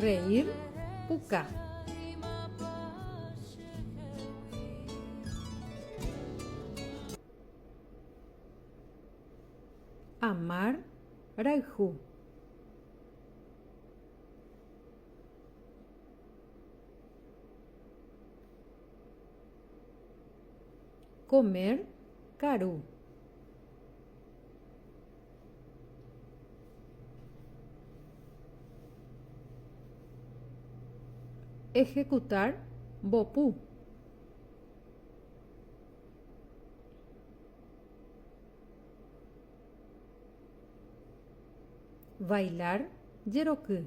Reír puka. Amar rayhu. Comer karu. Ejecutar mbopu. Bailar jeroky.